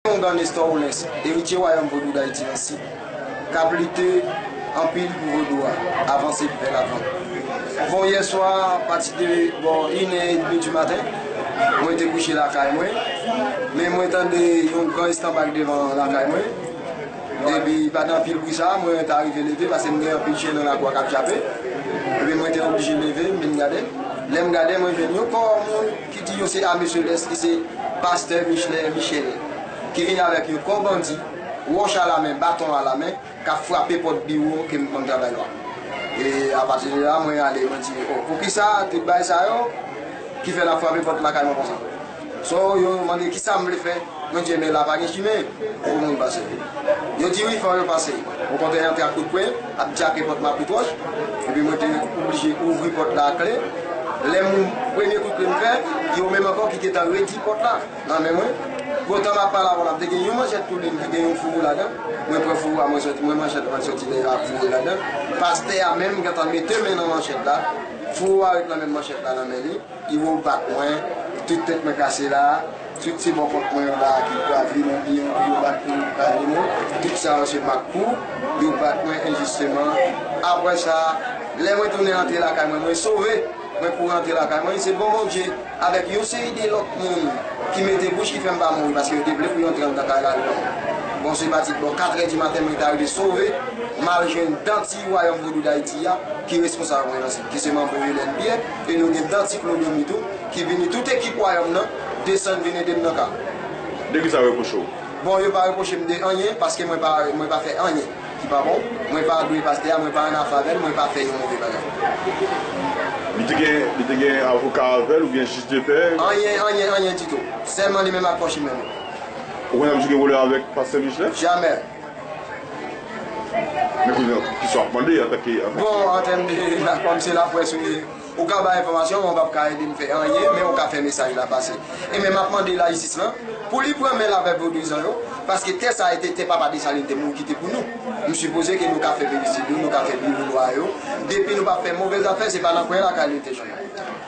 Kondan Nestor Oulens, eritye Wayòm Vodou Dayiti nan Sid, k ap lite anpil pou Vodou a avanse vè lavan. Bon, yè swa pati de bò inè edmi di maten, mwen te kouche lakay mwen, men mwen tande yon gran estanbak devan lakay mwen, epi pandan anpil bri sa a, mwen ta rive leve pase m gen anpil chen nan lakou a k ap jape, epi mwen te oblije leve m vin gade, lè m gade mwen jwenn yon kò moun Ki di yo se ame selès ki se pastè Michelin Michelet ki vin avèk yon kò bandi, wòch a la men, baton a la men, k ap frape pòt biwo ke m konn travay yo a. E apati de la mwen ale mwen di o, poukisa tout bagay sa yo ki fè l ap frape pòt lakay mwen konsa? So yo mande kisa m vle fè? Mon Dieu men la pa gen chimen pou moun pase yo di wi fò yo pase ou kontre antre ak kout pwen ap djape pòt maprit wòch epi mwen te oblije ouvri pòt la ak kle lè m premye kout pwen m fè yo menm ankò ki gentan redi pòt la nan men mwen poutan map pale avèw la te gen yon manchèt tou li menm ki gen yon fouro ladan mwen pran fouro a mwen soti mwen manchèt lan soti deyò ak fouro ladan pastè a menm gentan mete men nan manchèt la fouro a ret nan menm manchèt la nan men li. Iwo bat mwen, tout tèt mwen kase la, tout se bò kont mwen yo la ki pral vin oubyen yo bat mwen ki pral vin ou, tout sa yo se mak kou, yo bat mwen enjisteman, aprè sa, lè mwen tounen antre lakay mwen, mwen sove, mwen kouri antre lakay mwen, se bon Bondye, avèk yon seri de lòt moun ki mete bouch ki fè m pa mouri, paske yo te vle pou yo antre anndan kay la avèk mwen. Bon se pati bò 4 è di maten mwen ta rive sove, m al jwenn Danti Wayòm Vodou Dayiti a ki responsab mwen nan sa. ki se manbo Helen Pierre, e nou gen Danti Claude-Remy tou, ki vini tout ekip Wayòm nan desann vin ede m nan ka. De ki sa yo reproche w? Bon, yo pa reproche m de anyen, paske mwen pa mwen pa fè anyen ki pa bon. Mwen pa adore pastè a, mwen pa annafè avè l, mwen pa fè yon move bagay. Li te gen li te gen avoka avè l oubyen jij de pè? Anyen, anyen, anyen ditou. Sèlman li menm ak kòchimè l yo. Ou konn ap jwe wòlè avèk pastè Michelet? Jamè! Bon antenbe la kòm se la près ou ye ou ka bay enfòmasyon men ou pap ka edem fè anyen men ou ka fè mesaj la pase e men map mande layisis lan pou li pran menl avè vodouyizan yo paske tè sa ete tè papa Desalin te moun kite pou nou m sipoze ke nou ka fè peristil yo nou ka fè biwo lwa yo depi nou pap fè movè zafè se pa nan kwen lakay nou te jwenn.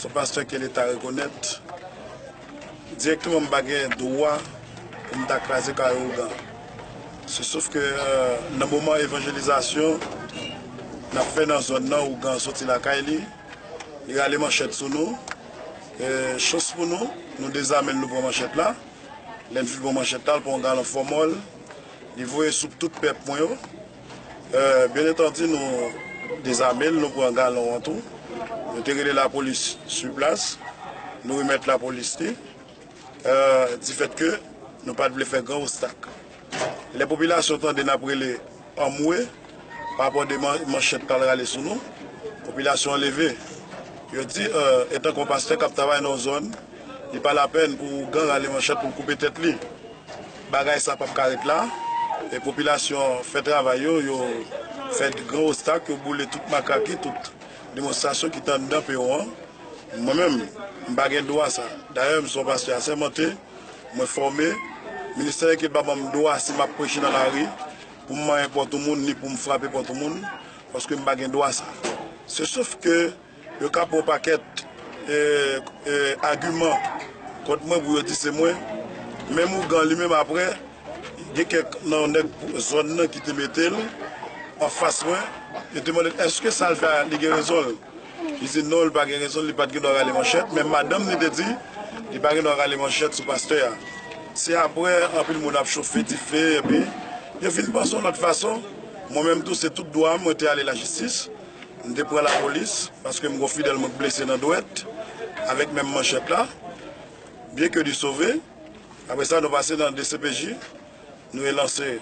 Son pastè ke leta rekonèt dirèkteman m pa gen dwa pou m ta kraze kay ougan se sof ke nan moman evanjelizasyon n ap fè nan zòn nan ougan soti lakay li li rale manchèt sou nou chans pou nou nou dezame l nou pran manchèt la lè n fin pran manchèt la l pran yon galon fòmòl li voye sou tout pèp mwen yo. Byen entanti nou dezame l, nou pran galon an tou. Nou te rele lapolis sou plas, nou remèt lapolis li, difèt ke nou pa t vle fè gran ostak. Lè popilasyon tande n ap rele anmwe, pa rapò de manchèt k al rale sou nou, popilasyon an leve. Yo di, etan ke yon pastè k ap travay nan yon zòn, li pa lapèn pou ougan rale manchèt pou l koupe tèt li. Bagay sa pap ka ret la. E popilasyon fè travay yo, yo fè gran ostak, yo boule tout makaki, tout demonstrasyon ki te anndan peron an. Mwen menm, m pa gen dwa sa. Dayè, m se yon pastè asèmante, mwen fòme. Ministè Lèkil pa ban m dwa si m ap preche nan lari pou m manyen pòt yon moun ni pou m frape pòt yon moun, paske m pa gen dwa sa. Se sof ke. Yo ka pran yon pakèt agiman kont mwen pou yo di se mwen. Menm ougan li menm aprè, gen kèk nan nèg zòn nan ki te mete l anfas mwen. Yo te mande l èske sa l fè a li gen rezon l. Li di non li pa gen rezon l, li pa t gen dwa rale manchèt. Menm madanm li te di li pa gen dwa rale manchèt sou pastè a. Se aprè anpil moun ap chofe dife epi yo fin panse yon lòt fason. Mwen menm tou se tout dwa m mwen te ale lajistis. M te pran lapolis paske m gen yon fidèl mwen k blese nan dwèt avèk menm manchèt la, byen ke li sove. Apre sa nou pase nan dcpj, nou relanse,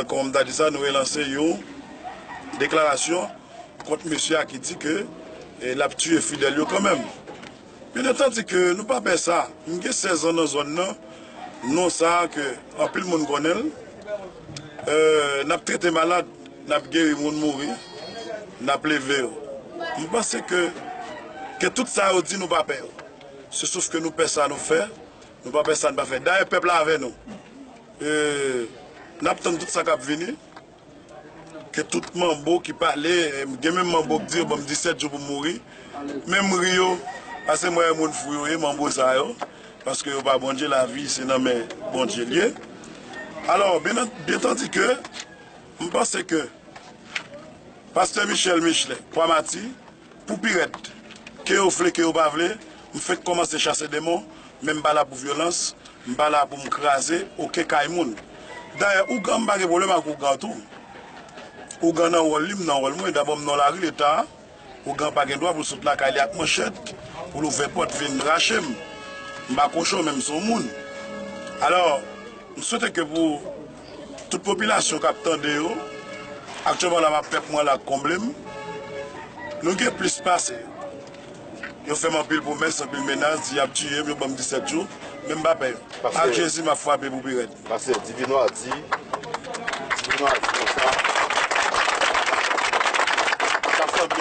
kòman m ta di sa, nou relanse yon deklarasyon kont mesye a ki di ke l ap tiye fidèl yo kanmenm. Bien entendi ke nou pa pè sa. M gen 16 ans nan zone nan, non sa ke anpil moun konnen l. Nap trete malad, nap geri moun mouri, nap leve yo. M panse ke ke tout sa yo di nou pa pè yo. Se sof ke nou pè sa nou fè, nou pa pè sa n pa fè. Dayè pèp la avè nou. Nap tann tout sa kap vini. Ke tout manbo ki pale, gen menm manbo ki di yo banm 17 jou pou m mouri, men m ri yo, pase m wè moun fou yo ye manbo sa yo, paske yo pa Bondye, lavi se nan men Bondye l ye. Alò, byentandi ke m panse ke Pastè Michel Michelet, Pwamati, Pou pi rèd, ke yo vle ke yo pa vle, m fenk kòmanse chase demon, men m pa la pou vyolans, m pa la pou m kraze oken kay moun. Dayè, ougan m pa gen pwoblèm ak ougan tou. Ougan nan wòl li, m nan wòl mwen. Dabò m nan yon lari leta, ougan pa gen dwa pou l sot lakay li ak manchèt, pou l ouvè pòt vin rache m. M pa kochon men m son moun. Alò, m swete ke pou Tout popilasyon kap tande yo, aktyèlman la map fè pwen la ak konble m. Nou gen plis pase yo. Yo fè m anpil pwomès, anpil menas, di yap tiye m, yo ban m 17 jou, men m pa pè yo. Ak Jezi map fwape pou pi rèd. Pastè Divinwar di konsa.